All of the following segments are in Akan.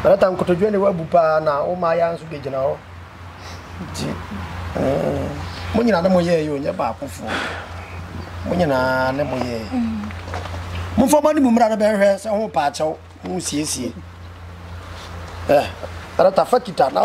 Ɔreta nkotodwe a ne wabu paa na wo mmaayɛ nso bɛgyina hɔ nti mo nyinaa ne mo yɛɛ yɛ onyɛ baakofoɔ mo nyinaa ne mo yɛɛ momfa mo anim mmra no bɛhwɛ sɛ ho paakyɛw ho siesie ɔreta fa kita na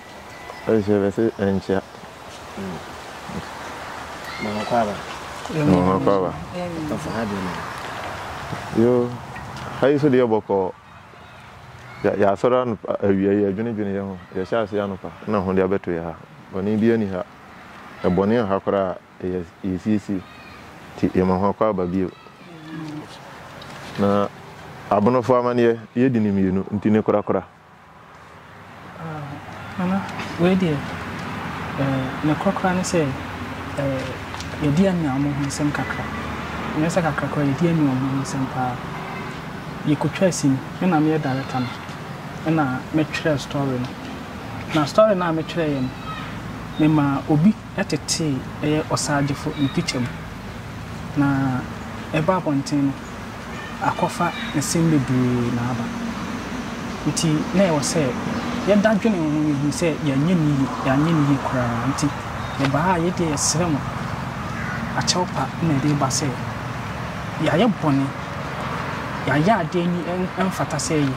Ɛnkyɛ bɛse ɛnkyea. Mama kɔ aba. Mama kɔ aba. Ɔfa ha deɛ mama. Yo, ha yi so deɛ bɔkɔɔ. Yɛasɔre anopa awia yi yɛdwenedwene yɛ ho. Yɛhyɛ ase anopa na ho de abɛto yɛ ha. Bɔne biara ni ha. Ɛbɔne wɔ ha koraa a yɛsiesie. Nti yɛma ho akɔ aba bio. Na Abonofoɔ amaneɛ yɛdi no mmienu nti ne korakora. Nana, wei deɛ, nokorɛ koraa ne sɛ, yɛdi Amiah wɔn ho nsɛm kakra. Nyɛ sɛ kakra koraa, yɛdi Amiah wɔn ho nsɛm paa. Yɛkɔtwaa sini, me na meyɛ director no, ɛna metwerɛɛ story no. Na story no a metwerɛeɛ no, memaa obi tetee ɛyɛ Ɔsaagyefo ne picture mu. Na ɛbaa abɔnten no. akɔfa nsɛm bebree na aba. Enti na ɛwɔ sɛ yɛda dwene ho, yɛhu sɛ yɛanyɛ no yie, yɛanyɛ no yie koraa. Enti yɛbaa a, yei deɛ yɛsrɛ mo, akyɛw pa na ɛde reba sɛ yɛayɛ bɔne, yɛayɛ adeɛ ani ɛmfata sɛ yɛyɛ.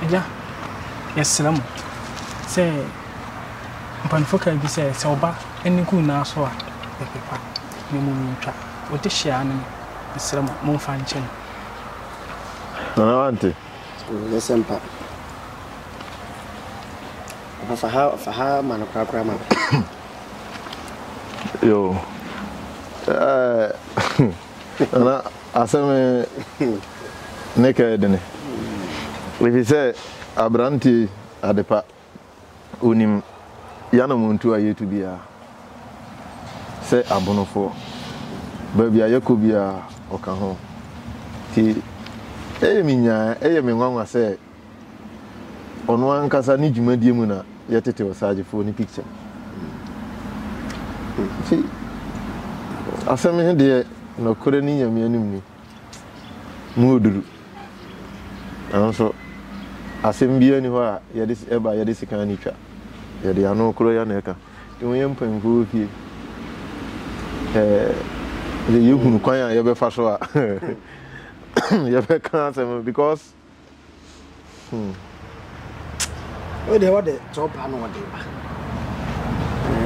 Agya, yɛsrɛ mo sɛ, mpaninfoɔ kaa bi sɛ, sɛ ɔba ani gu nnaa so a, ɛpepa. na mmom yentwa ɔdehyeɛ ano no, mesrɛ mo, momfa nkyɛ no. Nana wante? Ɛnyɛ sɛ mpa. Papa fa ha, fa ha ma no korakora ma me. Yo. Eh, nana asɛm ne kɛɛ dene. Ɛfiri sɛ aberanteɛ yi adepa. onim y'anamontuo a yɛretu biara sɛ abonofoɔ. Baabi a yɛkɔ biara ɔka ho. Nti ɛyɛ me nyaa, ɛyɛ me nwanwa sɛ ɔno ankasa ne dwumadie mu na yɛtete Osagyefoɔ ne picture no. Nti asɛm he deɛ nɔkorɛ ne Nyame anim ni. Mu yɛ duru. Nanso asɛm biara nni hɔ a yɛde ɛba a yɛde sekan no twa. Yɛde ano koro yɛ na ɛka. Nti wɔyɛ mpanyimfoɔ wɔ fie. Ɛɛ yɛhunu kwan a yɛbɛfa so a yɛbɛka asɛm no because. Hmm. Wo deɛ wɔde kyɛw paa na wɔde ba.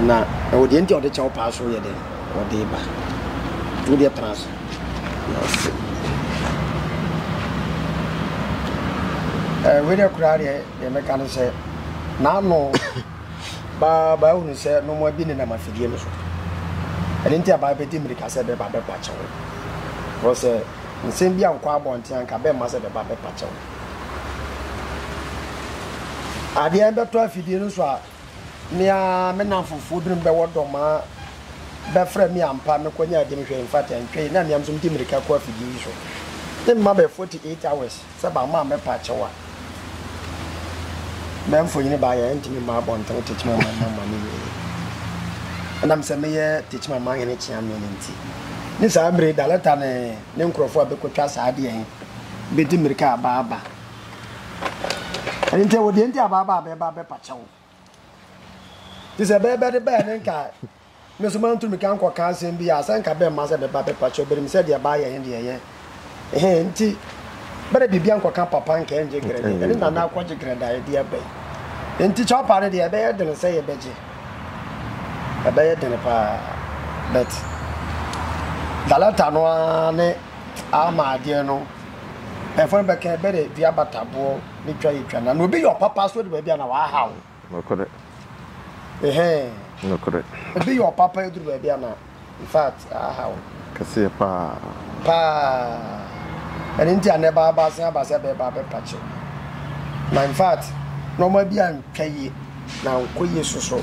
Na ɛwɔ deɛ nti a wɔde kyɛw paa so yɛ dɛ wɔde ba. Wo deɛ tena ase. Ase. Ɛɛ wei deɛ koraa deɛ deɛ mɛka ne sɛ n'ano baa baa hunu sɛ nnoɔma bi nenam afidie no so. Ɛno nti a baa bɛdi mmirika sɛ bɛba bɛpa kyɛw. Wɔ sɛ Nsɛm bi ankɔ abɔnten anka bɛmma sɛ bɛba bɛpa kyɛw. Adeɛ bɛtɔ afidie no so a, me ara me namfofoɔ binom bɛwɔ dɔ ma bɛfrɛ me ampa mekɔnya adi mehwɛ. In fact, ɛntwɛe na me ara nso mede mmirika kɔ afidie yi so. Ne mma bɛɛ 48 hours. Sɛ bamma a mɛpa akyɛw a bɛ mfonyin baayɛ a ɛrentumi mma abɔnten Tekyima man mu amane nwie. Ɛnam sɛ meyɛ Tekyima man hene kyea me no nti, ne saa bere yi Daleta ne ne nkurɔfo a bɛkɔtwa saa adeɛ he bedi mmirika a baaba. Ɛno nti, ɛwɔ deɛ nti a baaba a bɛɛba abɛpa kyɛw. Te sɛ bɛyɛ bɛde bɛyɛ ne nkae. Me nso mantumi ka nkɔka asɛm bi a sɛ nka bɛmma sɛ bɛba bɛpa kyɛw bɛnim sɛ deɛ baayɛ he deɛ ɛyɛ he nti bɛde biribia nkɔka papa nka ɛngye grɛde ɛne nana akɔgye grɛda ɛdeɛ bɛn nti kyɛw paa no deɛ ɛbɛyɛ dene sɛ yɛbɛgye ɛbɛyɛ dene paa but dalɛta no ara ne ama adeɛ no ɛfo no bɛka bɛde dua bataboɔ ne twa yɛ twa na na obi yɛ ɔpapa so de baabi a na wahaw nokorɛ ɛhɛn nokorɛ obi yɛ ɔpapa yɛ duru baabi a na in fact ahaw kɛseɛ paa paa ɛne nti a na ɛba aba asen aba sɛ bɛɛba bɛpa kyɛw na in fact nɔɔma bi antwa yie na nkɔ yie soso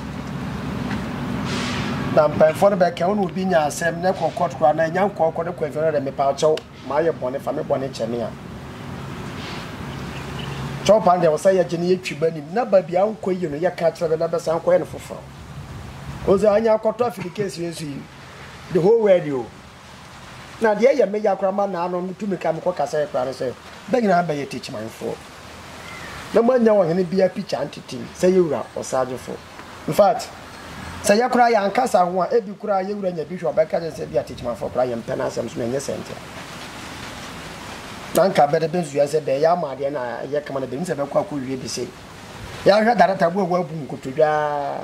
na mpanyinfoɔ no bɛka wo na obi nya asɛm na ɛkɔ kɔt koraa na ɛnya nkɔɔkɔ ne kɔ ɛfɛ no dɛ mepa kyɛw Mayɛ bɔne fa me bɔne kyɛ me a. Kyɛw paa deɛ wɔsɛ yɛgye no yɛ twi ba nim na baabi a nkɔ yi no yɛ ka kyerɛ bɛ na bɛsan nkɔ yɛ no foforɔ ɔsɛ anya akɔtɔ afidi kesi nso yi the whole world o na deɛ yɛ me ya koraa ma naa no metu me ka mekɔ kasa yɛ koraa no sɛ bɛ nyinaa bɛyɛ tikyimanfoɔ na moanya ɔhene bia pikya ntetem sɛ yɛwura ɔsagyefo In fact, sɛ yɛ koraa yɛn ankasa ho a, ebi koraa yɛ wura nya bi hwɛ ɔbɛka kyerɛ sɛ bi a Tetemafo koraa yɛn mpɛ n'asɛm so na ɛnyɛ sɛ nkyɛ na nka bɛde bɛsua sɛ bɛyɛ ama adeɛ na ɛyɛ kama na bɛnim sɛ bɛkɔ akɔ wie bi se yɛahwɛ darata bu a wɔabu nkotodwaa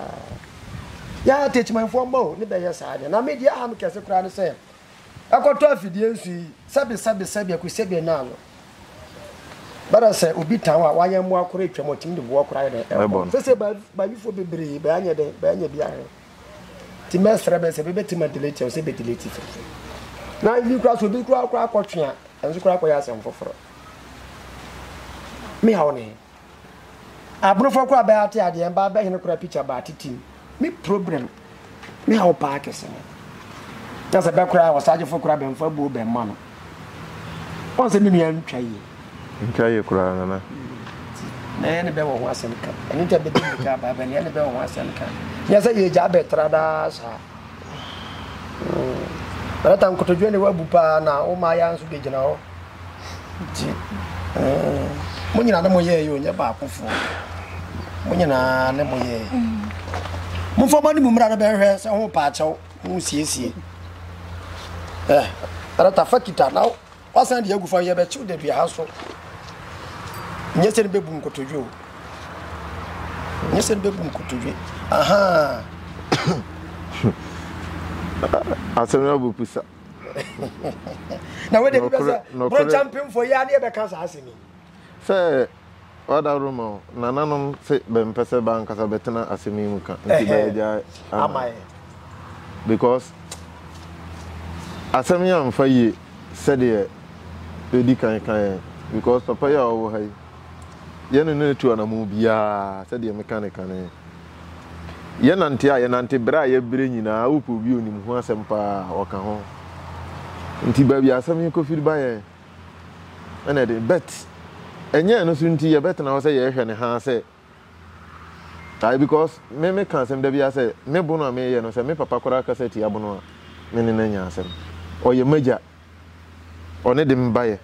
yɛ Tetemafo mma o ne bɛyɛ saa deɛ na medeɛ aha me kɛse koraa ne sɛ ɛkɔtɔ afidie nsu yi sɛbi sɛbi sɛbi ɛku sɛbi ɛna ano bɛrɛ sɛ obi tan a wayɛ mmoa koro atwam ɔtumi de boɔ koro ayɛ dɛ ɛbɔ sɛsɛ baabifoɔ bebree bɛanyɛ dɛ bɛanyɛ bi ahwɛ ti mɛsrɛ bɛ sɛ bɛbɛtumi adelete sɛ bɛdelete fɛfɛ na ebi kora so obi kora kora akɔtwe a ɛnso kora akɔyɛ asɛm foforɔ mehaw ne Abrofoɔ koraa bɛyɛ ate adeɛ mbaa bɛ hene koraa picture baa titim me problem me haw paa kɛse no na sɛ bɛ koraa ɔsagyefo koraa bɛmfa abuo bɛmma no wɔn sɛ me nua ntwa yie ntwa yie koraa nana na yɛ ne bɛ wɔ ho asɛm ka ɛno nti bɛdi ne ka baa bɛ ne yɛ ne bɛ wɔ ho asɛm ka nyɛ sɛ yɛ gya bɛtra daa saa hmm. bɛrɛta nkotodwe ne wabu paa na wo maa yɛ nso bɛgyina hɔ Nti mo nyinaa ne mo yɛɛ yɛ onyɛ baakofoɔ mo nyinaa ne mo yɛɛ mo nfa mo ne mo mmira no bɛhwɛ sɛ ho paakyɛw ho siesie ɛ ɛrɛta fa kita na wasan deɛ agu fa yɛ bɛkyew da dua ha so nyɛ sɛ no bɛbu nkotodwe o nyɛ sɛ no bɛbu nkotodwe aha asɛm no abu pusa na wode bi bɛsɛ borɔnkya mpemfoɔ yɛ a ne yɛbɛka saa asɛm yi sɛ wada roma o nananom se bɛmpɛ sɛ baankasa bɛtena asɛm yi mu ka nti bɛagyae ama because asɛm yi amfa yie sɛdeɛ ɛdi kan ka yɛn because papa yi a ɔwɔ ha yi yɛne no atu anammɔn biara sɛdeɛ meka ne kane Yɛnante a yɛnante bere a yɛbrɛ nyinaa wopɛ obi a onim ho asɛm paa a ɔka ho. Nti baabi a asɛm yi kɔfiri ba yɛn ɛna ɛde bet ɛnyɛ ɛno so nti yɛbɛtena hɔ sɛ yɛrehwɛ ne haa sɛ ae because me meka asɛm da biara sɛ me bono a meyɛ no sɛ me papa koraa kasa tia bono a me ne no anya asɛm ɔyɛ m'agya ɔne de me baeɛ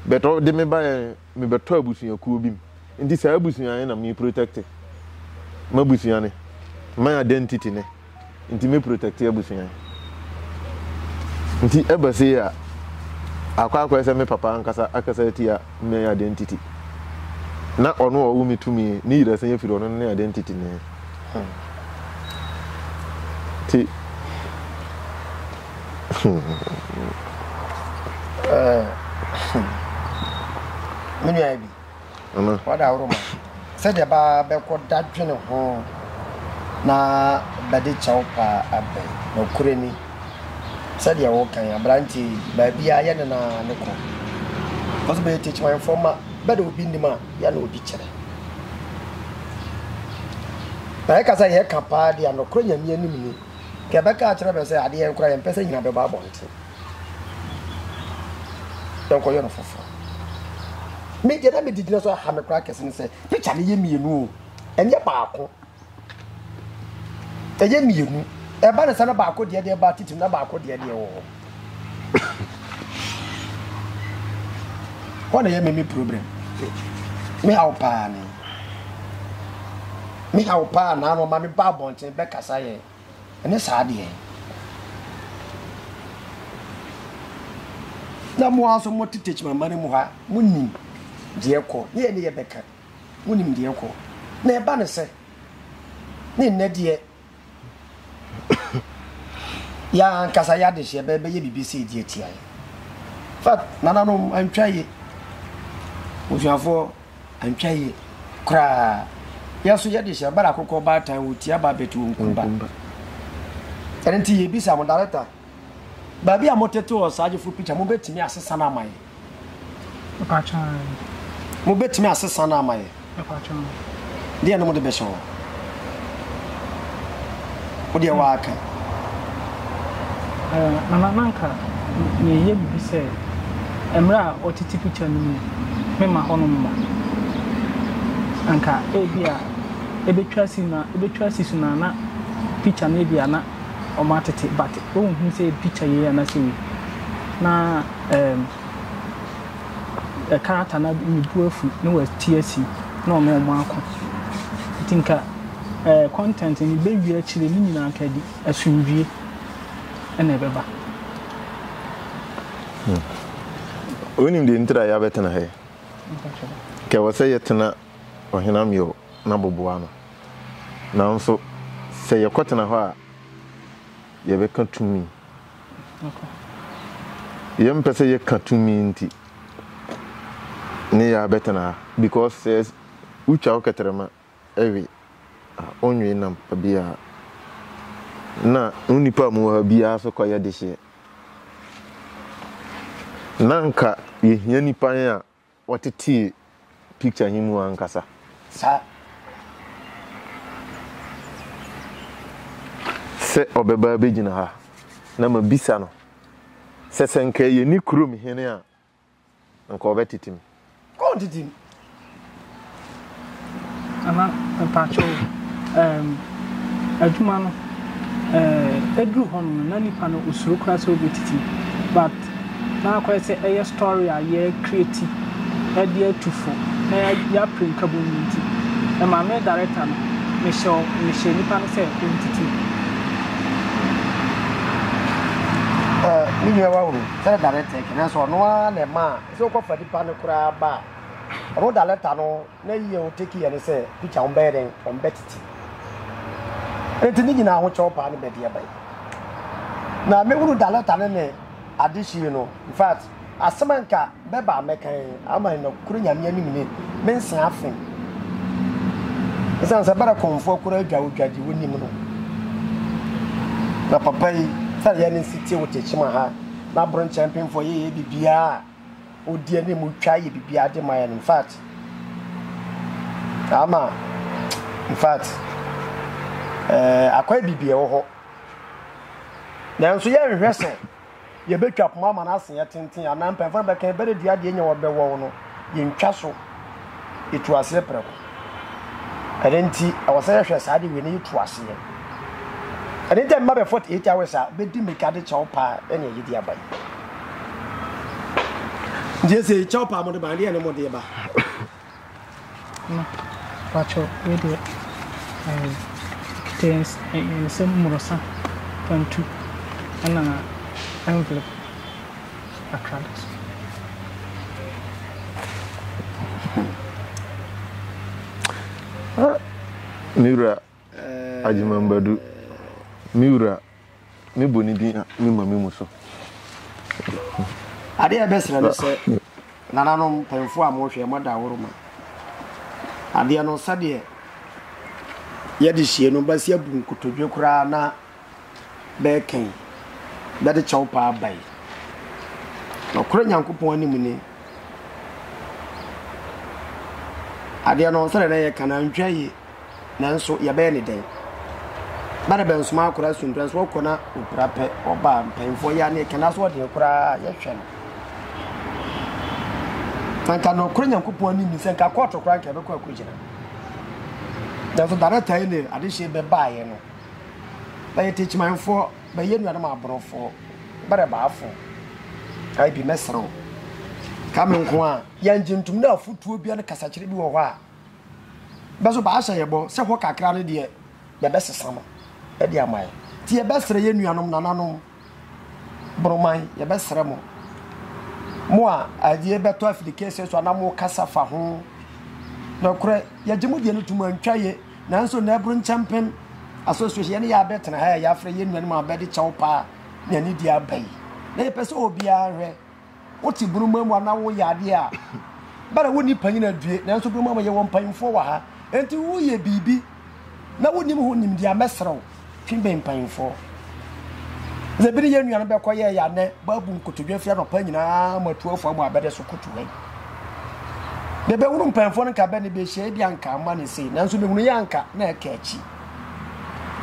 but ɔde me baeɛ mebɛtɔ abusuakuo bi mu nti saa abusua ne na me protect m'abusua ne my identity ne nti me protect abusua nti ɛbɛ se a akɔ akɔɛ sɛ me papa ankasa akasa atia me identity na ɔno ɔwo me tumi ne yira sɛ yɛfiri ɔno ne identity ne ti me nua bi wada aworo ma sɛdeɛ baa bɛkɔ da dwene ho na bɛde kyɛw paa abɛn na ɔkorɛ ni Sɛdeɛ woka yi, aberanteɛ yi, baabiara yɛne no ara ne kɔ. Because bɛyɛ tekyemaefoɔ mma, bɛ de obi nim a, yɛne obi kyerɛ. Na yɛka sɛ yɛka paa deɛ a, nokorɛ Nyame anim ni. Nka yɛbɛka akyerɛ bɛ sɛ adeɛ nkoraa yɛmpɛ sɛ nyina bɛba abɔnten. Yɛnkɔyɛ no foforɔ. Me deɛ na mede gyina so a, aha me koraa kɛse ne sɛ, picture no yɛ mmienu o, ɛnyɛ baako. Ɛyɛ mmienu. Ɛba ne sɛ na baako deɛ deɛ ba titiri na baako deɛ deɛ wɔ hɔ. Wɔn na ɛyɛ me me problem. Me ha wo paa ne. Me ha wo paa naa na ɔma me ba abɔnten bɛkasa yɛ. Ɛne saa deɛ. Na mo aso mo tete kyimama no mu ha mo nim deɛ kɔ. Ne yɛ ne yɛ bɛka. Wonim deɛ ɛkɔ na ɛba ne sɛ ne nnɛ deɛ yɛn ankasa yɛ adehyeɛ bɛyɛ bɛyɛ biribi sɛ ɛdi atia yɛ fat nananom antwa yie osuafoɔ antwa yie koraa yɛn nso yɛde hyɛ bara akokɔ baatan wɔ tia ba bɛtu nkumba ɛno nti yɛbisa mo dareta baabi a motete wɔ saa gyefo pikya mobɛtumi asesa no ama yɛ Mpakyɛw aane. Mobɛtumi asesa no ama yɛn? Mpakyɛw. Deɛ no mode bɛhyɛ hɔ. Wodeɛ waaka. Ɛɛ Nana na nka meyɛ biribi sɛ mmerɛ a ɔtete picture no mu no memma hɔ nom mma. Anka ebi a ɛbɛtwa si no ɛbɛtwa si so no a na picture no ebi a na wɔatete but wonhunu sɛ picture yei anaa sɛ wei na. ɛɛm, ɛka ata na ne bo afu na wati asi na ɔne wɔn ako. Nti nka ɛɛ content no bɛwie akyire ne nyinaa nka ɛde asomdwie na ɛbɛba. Hmm. Wonim deɛ ntira yɛabɛtena ha yi. Nka ɛwɔ sɛ yɛtena ɔhenam yɛ na boboa no. Nanso sɛ yɛkɔtena hɔ a yɛbɛka tumi. Yɛmpɛ sɛ yɛka tumi nti ne yɛ abɛtena ha because sɛ wotwa wo kɛtrɛma we a wonwe nam biaa na wo nnipa a mowɔ ha biaa nso kɔyɛ dehyeɛ. Na nka yɛhia nnipa he a wɔtetee picture he mu ankasa. Sa sɛ ɔbɛba abɛgyina ha na ma bisa no sɛ sɛ nka ɛyɛ ne kurom hene a nka ɔbɛtete mu. Ɔntetem. Nana mpakyɛw ɛɛm adwuma no ɛɛm eduru hɔ nom no na nipa no osuro koraa sɛ obetiti but na akɔyɛ sɛ ɛyɛ story a yɛ creati ɛde atu fo na ya pere nkabu no nti ɛma me director no me hyɛ ɔ me hyɛ nipa no sɛ ontiti. Ɛɛ me nua wahunu sɛnɛ director ɛkɛ nanso ɔno ara na ɛmaa sɛ wokɔ fa nipa no koraa ba a Ro da lɛta no na yi yɛ oteki yɛ ne sɛ pikya wɔn bɛyɛ dɛn wɔn bɛ titi eti ne nyinaa ho kyɛw paa ne bɛ deɛ bɛyɛ na me hunu da lɛta ne ne ade hyii no in fact asɛm a nka bɛ ba mɛkan ama na kure nyame anim ne me nsen afen ɛsan sɛ bɛrɛ kɔnfoɔ kura adwa odwa gye wɔ nim no na papa yi sɛ yɛ ne nsi tie wɔ tekyima ha na aboro nkyɛn pemfoɔ yɛ yɛ bibiaa Odi anim, otwa, yɛ biribiara de ma yɛn. In fact, ama, in fact, ɛɛ akwan biribi ɛwɔ hɔ. Nanso yɛnhwɛ sɛ yɛbɛtwa poma ama no ase yɛ tenten anaa mpanyinfoɔ no bɛka yɛn bɛrɛ dua deɛ nyɛ wɔbɛwɔ no yɛntwa so. etu aseɛ prɛko. Ɛno nti ɛwɔ sɛ yɛhwɛ saa de wei no yɛtu aseɛ. Ɛno nti mma bɛ 48 hours a bɛdi mmirika de kyɛw paa ɛne ɛyɛ di aba yi. Nti ɛsɛ kyɛw paa mo de ba ɛdeɛ ne mo de ba. Pakyɛw wei deɛ ɛkita nsɛm mmorosa pantu ɛna envelope. Me wura Agyemambadu, me wura, me bɔ ne din a me ma me mu so. Adeɛ a ɛbɛsrɛ no sɛ nananom mpanyinfoɔ a mohwɛ mo ada aworo ma adeɛ no sɛdeɛ yɛde hyia no basi abu nkotodwe koraa na bɛɛkã yi bɛde kyɛw paa bae. Nokwar Nyankopɔn anim nye adeɛ no ɔnsɛ dɛ na yɛka no antwa yie nanso yɛbɛyɛ ne dɛn? Ba no bɛnsoma akora asundura nso ɔkɔ na ɔpira pɛ ɔba a mpanyinfoɔ yɛ aneɛ kɛn aso ɔdeɛ koraa yɛhwɛ no na nka nokorɛ nyankopɔn anim ne sɛ nka kɔɔto koraa nka ɛbɛkɔ akɔgyina nanso dana taile adehyeɛ bɛbaeɛ no bɛyɛ techimanfoɔ, bɛyɛ nuanom aborɔfoɔ, bɛrɛ baafoɔ. Ayi bi mɛsrɛ wo, ka me nko a, yɛn gye ntom na afutuo bia ne kasakyerɛ bi wɔ hɔ a, bɛso baahyɛ yɛ bɔ sɛ hɔ kakra no deɛ yɛbɛsesa no ɛde ama yɛ. Ti yɛbɛsrɛ yɛ nuanom nananom. Boroman, yɛbɛsrɛ mo, mo a adeɛ bɛtɔ afiri kɛseɛ so anaa mo kasa fa ho. Nokorɛ, yɛgye mo deɛ no to mu antwa yɛ, nanso na ɛboro nkyɛmpem asosɔhyɛ yɛne yɛ abɛtena ha a yɛafrɛ yɛn nuanom a bɛde kyɛw paa ne anidie aba yi. Na yɛpɛ sɛ obiara hwɛ. wote bruma mu anaa woyɛ adeɛ a, bɛ na wonni panyin adue, nanso bruma mu yɛwɔ mpanyimfoɔ wɔ ha. Enti woyɛ biribi na wonim ho nimdeɛ a, mɛsrɛ wo, twe bɛn mpanyimfoɔ. Sɛ bi ne yɛn nuanom bɛkɔ yɛɛ yɛ anɛ, baabu nkotodwe afiri anɔpa nyinaa ma atu afa mu a, bɛde so koto hɛn. Deɛ bɛhunu mpanyimfoɔ no nka bɛ ne bɛhyia, ebi anka ama ne sei, nanso mehunu yɛ anka na ɛka akyi.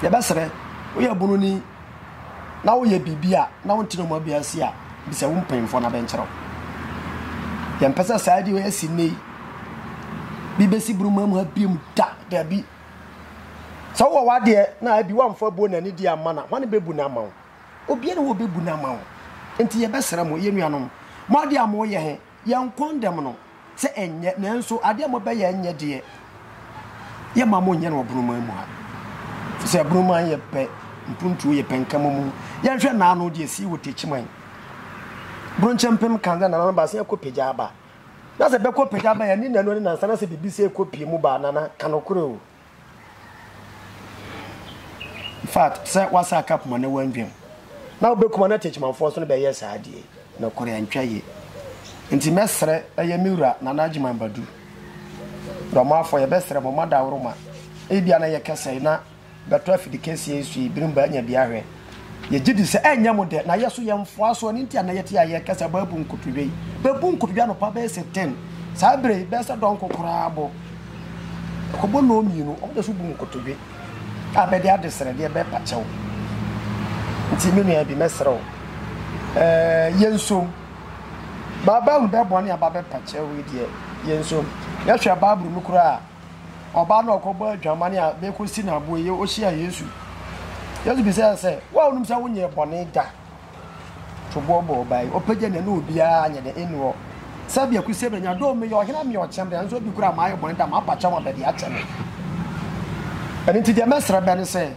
Yɛbɛsrɛ, woyɛ bununi, na woyɛ biribi a na wonte no mu abia ase a, bisa wo mpanyimfoɔ na bɛnkyerɛ wo. Yɛmpɛ sɛ saa adi esi nnɛ yi bi bɛsi buruma mu ha biom da daabi. Sɛ wowɔ w'adeɛ na abi woamfa buo na anidi amma no a, hwane bɛbu no ama wo? Obiara wɔ bɛbu no ama wo. Enti yɛbɛsrɛ mo, yɛn nuanom, mo adeɛ a moyɛ he, Yɛn kɔndɛm no sɛ ɛnyɛ nanso adeɛ a mobɛyɛ ɛnyɛ deɛ yɛ ma mo nyɛ no wɔ bonoman mu ha fi sɛ bonoman yɛ pɛ mpuntuo yɛ pɛ nkama mu yɛnhwɛ naano deɛ sii wɔ takyiman bronkyɛ mpem kan sɛ nana no ba sɛ ɛkɔ pagya aba na sɛ bɛkɔ pagya aba yɛ ne nanu ne nansa na sɛ biribi sɛ ɛkɔ pie mu ba nana kanokore o Infact sɛ wasa akapoma na wandwam na wobɛkuma na Techimanfoɔ nso no bɛyɛ saa deɛ nokorɛ antwa yie nti mɛsrɛ ɛyɛ me wura Nana Agyeman Badu Dormafoɔ yɛbɛsrɛ mo mo adaworoma ebia na ɛyɛ kɛsɛe na bɛtɔ afidikɛseɛ yi so yi bere mu bɛanya bi ahwɛ Yɛgye di sɛ ɛnyɛ mo dɛ, na yɛ so yɛ mfoa so, ɛno nti a na yɛte a yɛrekasa bɔ abu nkotodwe yi. Bɛbu nkotodwe anɔpa bɛyɛ sɛ 10, saa berɛ yi bɛyɛ sɛ dɔnko koraa bɔ. Ɛkɔbɔ nnɔɔ mmienu, wɔde so bu nkotodwe a bɛde adesrɛ deɛ bɛpa kyɛw. Nti me nua bi mɛsrɛ wo, ɛɛ yɛnsom. Baabɛhu bɛboa ne aba bɛpa kyɛw yi deɛ, yɛnsom. Yɛhwɛ Bible mu koraa a, ɔbaa no a ɔkɔbɔ adwaman a bekosi no aboɛ yi ohyia Yesu. Yesu bisa yɛ sɛ, wo a wonim sɛ wonyɛ bɔne da, to boɔ bɔ ɔbaa yi. Ɔpagya ne ne obiara nyɛ dɛ enu hɔ. Sɛ bia kusi ebenya do meyɛ ɔhene a meyɛ ɔkyɛm dɛ nso obi kura mayɛ bɔne da mapa kyɛ wɔn bɛde akyɛ me. Ɛno nti deɛ mɛsrɛ bɛ ne sɛ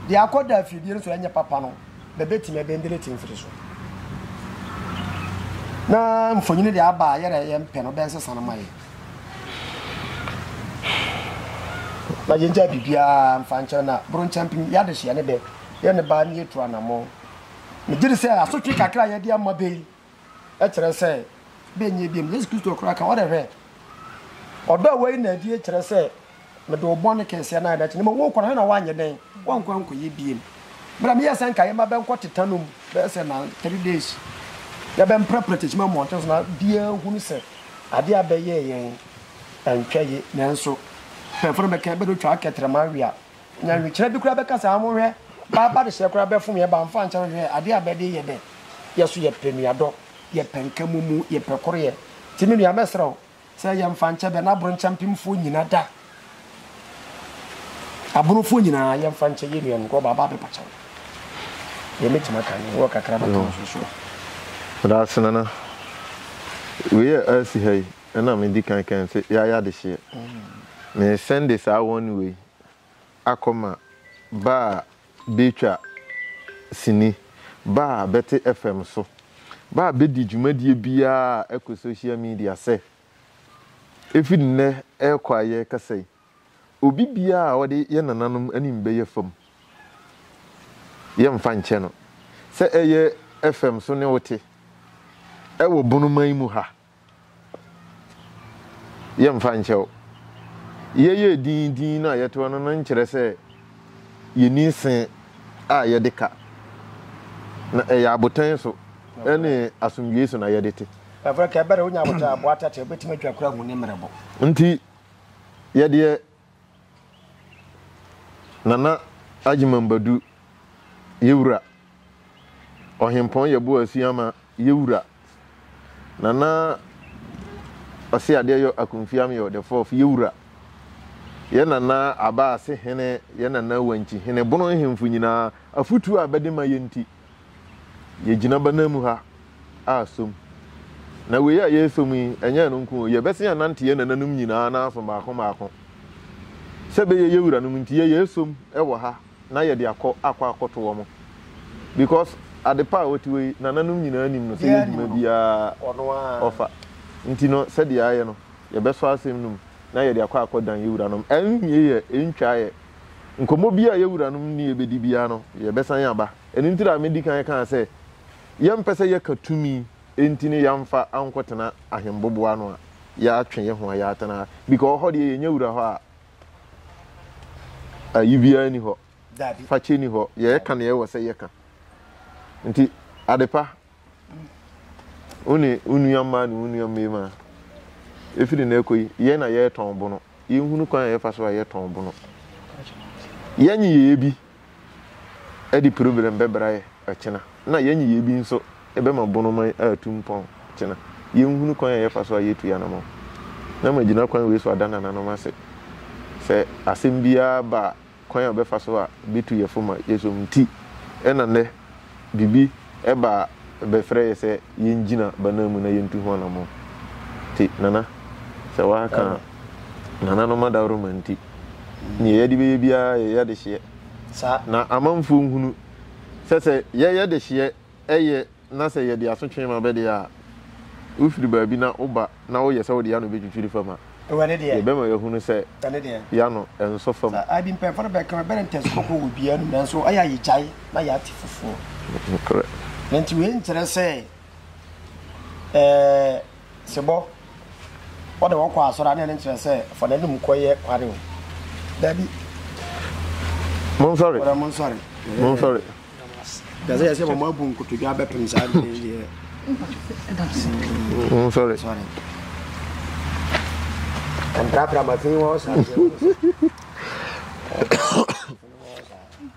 deɛ akɔ da afidie no so ɛnyɛ papa no bɛbɛtumi ɛbɛndelete mfiri so. Na mfonyini deɛ aba a yɛrɛ yɛmpɛ no bɛnsesa no ma yɛ. na yɛngyaa biribiara mfa nkyɛn na boro nkyɛn pem yɛ adehyeɛ ne dɛ yɛ ne baa ne yɛtu anammɔn megye de sɛ asotwe kakra a yɛde ama bɛ yi kyerɛ sɛ bɛnyɛ biam yesu kristo koraa ka wɔde hwɛ ɔdɔ a wɔyi na adie kyerɛ sɛ Mede wo bɔne kɛseɛ no ayɛ no akyɛ, na mmom worekɔ no, hwɛ na woanyɛ dɛn? Woankɔ ankɔyɛ biem. Berɛ a meyɛɛ sɛ anka yɛmma bɛnkɔ teta no mu bɛyɛ sɛ na three days, yɛbɛmprɛprɛ kyekyem mmɔnten so, na biara hunu sɛ adeɛ a bɛyɛɛ yɛn antwa yie. Nanso mpanyimfoɔ no bɛka, bɛde otwaa kɛtrɛma awe a, nyanwekyerɛ bi koraa bɛka sɛ, Monhwɛ, baa ba dehyɛ koraa bɛfom yɛn, baa mfa nkyɛ no, hwɛ, adeɛ a bɛde yɛ dɛ, yɛ nso yɛpɛ nuadɔ, yɛpɛ nkamumu, yɛpɛ koroyɛ. Nti me nua, mɛsrɛ wo, Sɛ yɛmfa nkyɛ bɛ na bronkyɛmpemfoɔ nyina da abrofoɔ nyinaa yɛmfa nkyɛ yɛ nuanom kɔ ɔbaabaa bɛ pakyɛw yɛ mɛtumi aka ne wɔ kakra bɛka no so soɔ. Daase nana. Wei yɛ asi ha yi ɛna me di kan kan se yɛayɛ adehyeɛ. Me sɛnde saa one wei akɔma ba a betwa sini, ba a bɛte FM so, ba a bedi dwumadie biara a ɛkɔ social media sɛ, efi nnɛ rekɔ a yɛrekasa yi, obi biara a ɔde yɛn nananom anim bɛyɛ fam, yɛmfa nkyɛ no. Sɛ ɛyɛ FM so ne wote wɔ Bonoman mu ha, Yɛmfa nkyɛ o, yɛyɛ dinn dinn no a yɛtoa no no nkyerɛ sɛ yenni se a yɛde ka, na ɛyɛ abotan so ne asomdwoe so na yɛde te. Ɛfiri nka bere a onya abotan a aboa tɛtrɛɛ betumi atwa koro ahu ne mmerɛbo. Nti, yɛdeɛ Nana Agyeman Badu, yɛ Wura. Ɔhempɔn Yɛboa Asuama, yɛ Wura. Nana Ɔse Adeɛyɔ Akumfi Ameyaw the Fourth, yɛ Wura. Yɛ Nana Aba Ase Hene, yɛ Nana Wankyi Hene, Bono nhemfo nyinaa, afotuo a bɛde ma yɛn nti, yɛgyina bɛnan mu ha a som. Na wei a yɛresom yi, ɛnyɛ ɛno nko o, yɛbɛsen anante yɛn nananom nyinaa nan so mmaako mmaako. Sɛ ɛbɛyɛ yɛn wuranom nti, yɛyɛ ɛsom wɔ ha na yɛde akɔ akɔ akɔto wɔn. Because ade pa a ɔte hɔ yi, nananom nyinaa nim no, sɛ yɛ dwuma biara ɔfa. Nti no, sɛdeɛ yɛayɛ no, yɛbɛsɔ asɛm no mu na yɛde akɔ akɔdan yɛn wuranom. Ɛnnyɛ yɛ, ɛntwa yɛ. Nkɔmmɔ biara a yɛn wuranom ne yɛn bɛdi biara no, yɛbɛsan aba. Ɛno nti na medi kan kaa sɛ yɛmpɛ sɛ yɛka tumi nti ne yɛamfa ankɔtena ahembobo ano a yɛatwe yɛn ho a yɛatena ha. Because hɔ deɛ yɛnya wura hɔ a, ayi biara nni hɔ, fakyɛ nni hɔ, yɛka deɛ ɛwɔ sɛ yɛka. Nti Adepa, Wo ne wo nua mmaa ne wo nua mmarima, ɛfiri nnɛ rekɔ yi, yɛn na yɛretɔn bono. Yɛnhunu kwan a yɛfa so a yɛtɔn bono. Yɛn nneyɛeɛ bi de problem bɛbra yɛ ɔkyena, na yɛn nneyɛeɛ bi nso bɛma bono man atu mpɔn ɔkyena. Yɛnhunu kwan a yɛfa so a yɛtu yɛn anammɔn. Na magyina kwan wei so ada nananom ase sɛ asɛm biara ba a, kwan a ɔbɛfa so a obetu yɛfo ma yɛasom nti na nnɛ biribi ba a ɛbɛfrɛ yɛ sɛ yengyina bana mu na yentu ho anammɔn. Te Nana, sɛ wɔaka nananom adaworoma nti, nea yɛde bɛyɛ biara yɛyɛ dehyeɛ. Na amanfoɔ nhunu sɛ sɛ yɛyɛ dehyeɛ yɛ na sɛ yɛde asotwe ma bɛ deɛ a, wofiri baabi na woba na woyɛ sɛ wode y'ano bɛtwitwiri fam a, yɛbɛma yɛahunu sɛ y'ano nsɔ fam. Saa bi mpanyinfoɔ no bɛka, bɛbɛrɛ ntɛnso kɔkɔɔ wɔ obiara anum, nanso ɛyɛ a yɛgyae na yɛate foforɔ. Nokorɛ. Enti wei nkyerɛ sɛ ɛɛ. Sebɔ, Wɔde wɔn kɔ asɔre a, na ɛno nkyerɛ sɛ fa n'anom kɔ yɛ kware o. Dabi. Monsɔre. Ɔdɛ monsɔre. Monsɔre. Kyerɛ sɛ yɛsɛ wɔn abu nkotodwe abɛpem saa adeɛ yi deɛ. Monsɔre. Sɔre. Mprapra ma fi wɔ saa.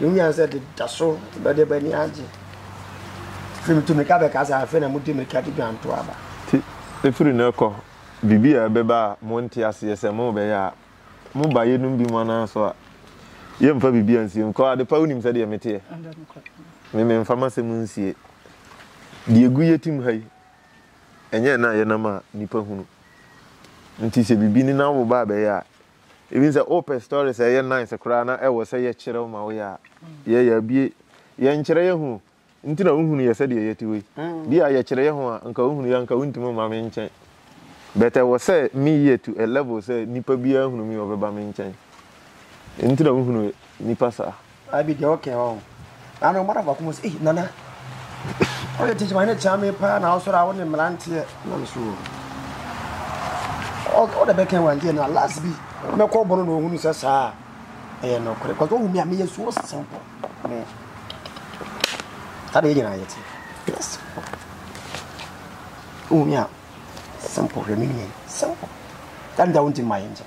Mo nyansa de da so bɛde b'ani agye. Afei metu mmirika bɛkasa, afei na modi mmirika de dwanto aba. Te, ɛfiri nnɛ rekɔ, biribi a ɛbɛba a monte aseɛ sɛ morebɛyɛ a, mo ba yeinom bi mo anan so a, yɛmfa biribiara nsie mo. Kɔ, adepa wonim sɛdeɛ meteɛ. Me, memfa m'asɛm nsie. Deɛ ɛgu yɛ tim ha yi, ɛnyɛ ɛna a yɛnam a nnipa hunu. Nti sɛ biribi ne n'awoba rebɛyɛ a, Even sɛ wopɛ stories a ɛyɛ nice koraa na ɛwɔ sɛ yɛkyerɛw ma wo yɛ a, yɛyɛ abue. Yɛnkyerɛ yɛn ho nti na wohunu yɛ sɛdeɛ yɛte wei. Bi a yɛkyerɛ yɛn ho a, nka wohunu yɛ a, nka wontumi mma me nkyɛn. But ɛwɔ sɛ meyɛ to a level sɛ nipa biara hunu me a ɔbɛba me nkyɛn. Ɛno nti na wohunu nipa saa. Abi deɛ wo kɛɛ ɔɔ. Na no madam baako mu sɛ ei nana wo de teacher ne kyaa me paa na wo sɔrɔ a wo ne mmeranteɛ na me so o wo de bɛkɛn wɔn deɛ na last bi mɛkɔ bɔno na ohunu sɛ saa ɛyɛ nɔkorɛ kɔsɛ ohu mi a meyɛ so simple me tadeɛ nyinaa yɛ te Yes. Who me a simple hwɛ me nua simple. That that won't in my engine.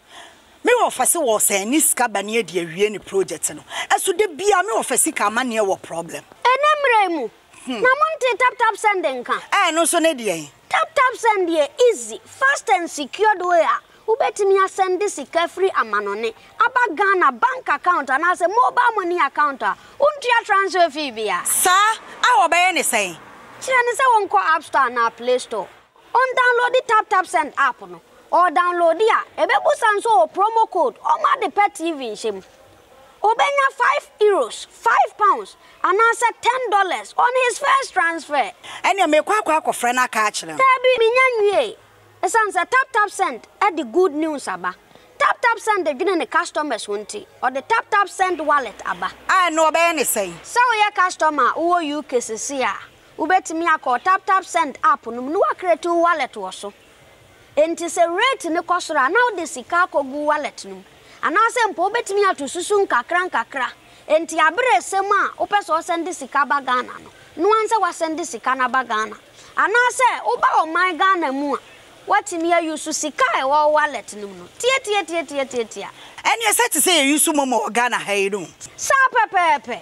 Me wɔfa se wɔ sɛn ne sika ba ne adi awie ne project no ɛso da biaa me wɔfa sika amaneɛ wɔ problem. Ɛnɛ mmerɛ yi mu na mo ntee tap tap send nka. Ɛno nso ne deɛn? Tap tap send yɛ easy, fast and secured way a wobɛtumi asɛnde sika firi amanɔne aba Ghana bank account anaasɛ mobile money account a wontua transfer fee biara. Saa? A wɔbɛyɛ ne sɛn? Kyerɛ no sɛ wɔnkɔ App Store anaa Play Store. Ɔndownloadi TapTapSend app no, ɔdownloadi a, ɛbɛbusa nso wɔ promo code ɔma de pɛ TV nhyɛ mu. Ɔbɛnya five Euros, five pounds, anaasɛ ten dollars on his first transfer. Ɛneɛ mekɔ akɔ akɔfrɛ no aka akyerɛ no. Daabi, menya nwiee. Ɛsiane sɛ TapTapSend de good news aba. TapTapSend dwene ne customers ho nti, ɔde TapTapSend Wallet aba. A ɛno ɔbɛyɛ ne sɛn? Sɛ woyɛ customer a wowɔ UK sesei a, Wobɛtumi akɔ wo TapTapSend app no mu na woacreate wo wallet wɔ so. Enti sɛ rate no kɔ soro a, na wode sika akɔgu wo wallet no mu. Anaasɛ mpo wobɛtumi ato susu nkakrankakra. Enti aberɛ ɛsɛ mu a wopɛ sɛ wosɛnde sika ba Ghana no, no ara sɛ woasɛnde sika no aba Ghana. Anaasɛ woba ɔman Ghana mu a, woatumi a use sika a ɛwɔ wo wallet no mu no. Tiatiatiatiatiatia. Ɛneɛ sɛ te sɛ yɛ use momo wɔ Ghana ha yi no. Saa pɛpɛɛpɛ.